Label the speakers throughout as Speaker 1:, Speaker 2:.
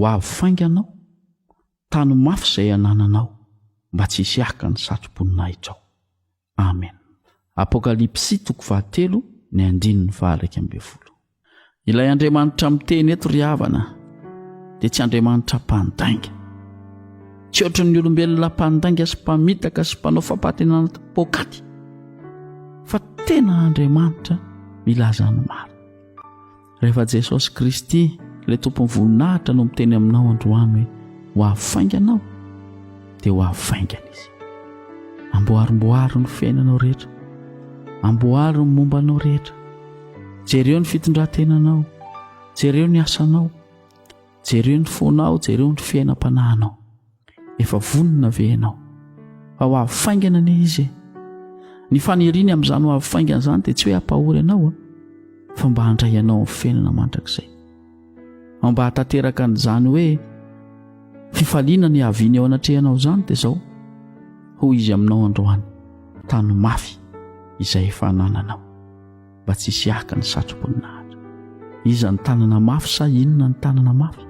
Speaker 1: ho avy fainganao tany mafy izay anananao mba tsy hisy haka ny satroboninahitrao Amen. Apokalypsy toko fahatelo ny andininy fahairaika ambin'ny folo. Ilay Andriamanitra miteny eto ry havana dia tsy Andriamanitra mpandainga. Tsy ohatry ny olombelona mpandainga sy mpamitaka sy mpanao fampatenana poakaty fa tena Andriamanitra milaza ny marina. Rehefa Jesosy Kristy, ilay Tompon'ny voninahitra no miteny aminao androany hoe ho avy faingana aho, dia ho avy faingana izy. Amboarimboaro ny fiainanao rehetra. Amboaro ny momba anao rehetra. Jereo ny fitondran-tenanao. Jereo ny asanao. Jereo ny fonao, jereo ny fiainam-panahinao. Efa vonona ve ianao? Fa ho avy faingana anie izy e. Ny faniriany amin'izany ho avy faingana izany dia tsy hoe hampahory anao a, fa mba handray anao amin'ny felona mandrakizay. Ao mba hahatanteraka an'izany hoe fifaliana ny haviany eo anatrehanao izany dia izao, hoy izy aminao androany, tano mafy izay efa anananao. mba tsy hisy haka ny satromboninahitra. Iza ny tanana mafy sa inona ny tanana mafy?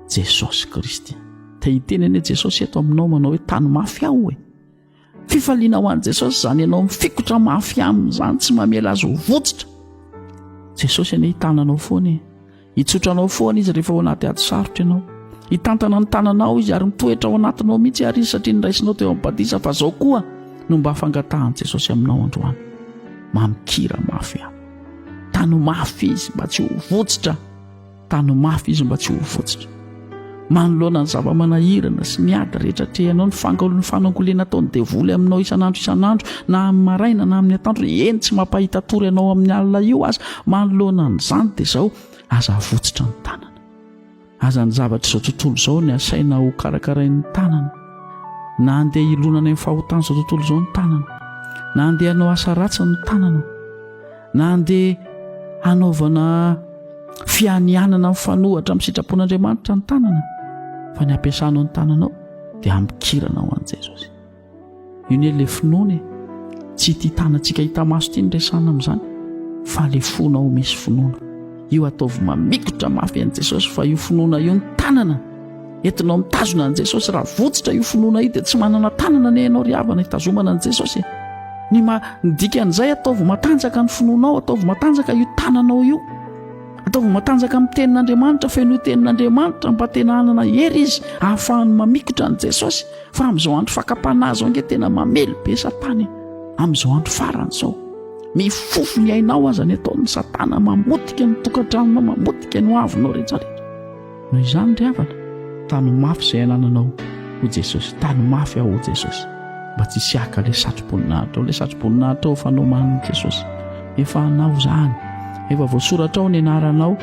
Speaker 1: Jesosy Kristy. Te hiteny anie Jesosy eto aminao manao hoe tany mafy aho e. Fifaliana ho an'i Jesosy izany ianao mifikotra mafy aminy izany, tsy mamela azy ho votsitra. Jesosy anie hitananao foana e. Hitsotra anao foana izy rehefa ao anaty ady sarotra ianao. Hitantana ny tananao izy ary mitoetra ao anatinao mihitsy ary izy satria niraisinao teo amin'ny badisa fa zao koa no mba fangatahan'i Jesosy aminao androany. Mamikira mafy aho. Tano mafy izy mba tsy ho votsitra. Tano mafy izy mba tsy ho votsitra. Manoloana ny zava-manahirana sy ny ady rehetra atrehinao, ny fangaron'ny fanangoleana ataon'ny devoly aminao isan'andro isan'andro, na amin'ny maraina na amin'ny atoandro, eny tsy mampahita tory anao amin'ny alina io aza, manoloana an'izany dia izao, aza avotsitra ny tanana. Aza ny zavatr'izao tontolo izao ny asaina ho karakarain'ny tanana. Na handeha hilonana amin'ny fahotan'izao tontolo izao ny tanana. Na handeha hanao asa ratsy ny tanana. na handeha hanaovana fianianana mifanohatra amin'ny sitrapon'Andriamanitra ny tanana fa ny ampiasanao ny tananao dia hamikirana ho an'i Jesosy io ne le finoana e tsy ity tanantsika hita maso ity ny resana amin'izany fa le fona ho misy finoana io ataovy mamikotra mafy an'i Jesosy fa io finoana io ny tanana Entinao mitazona an'i Jesosy. Raha votsitra io finoana io dia tsy manana tanana anie ianao ry havana hitazomana an'i Jesosy e. Ny ma dikan'izay ataovy matanjaka ny finoanao, ataovy matanjaka io tananao io. Ataovy matanjaka amin'ny tenin'Andriamanitra, fenoy tenin'Andriamanitra mba tena hanana hery izy ahafahany mamikotra an'i Jesosy. Fa amin'izao andro fakam-panahy izao ange tena mamely be Satana e. Amin'izao andro farany izao. Mifofo ny ainao aza ny ataon'ny Satana, mamotika ny tokantranonao, mamotika ny hoavinao rehetra rehetra. Noho izany ry havana, tano mafy izay anananao hoy Jesosy, tano mafy aho hoy Jesosy mba tsy hisy haka ilay satroboninahitra ao, ilay satroboninahitra ao efa nomanin'i Jesosy, efa anao izany, efa voasoratra ao ny anaranao,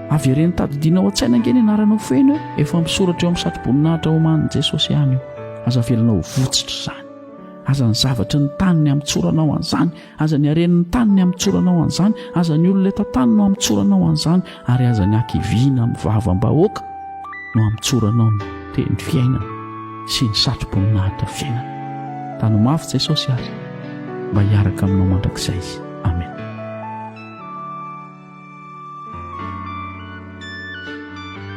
Speaker 1: avereno tadidianao an-tsaina ange ny anaranao feno eo, efa misoratra eo amin'ny satroboninahitra omanin'i Jesosy ihany io, aza avelanao ho votsitra izany, aza ny zavatry ny tany ny amitsoranao an'izany, Aza ny haren'ny tany ny hamotsorana ho an'izany, aza ny olona eto an-tany no hamotsorana ho an'izany, ary aza ny hakiviana amin'ny vavam-bahoaka no hamotsoranao ny teny fiainana sy ny satroboninahitra fiainana. Tano mafy Jesosy ary mba hiaraka aminao mandrakizay.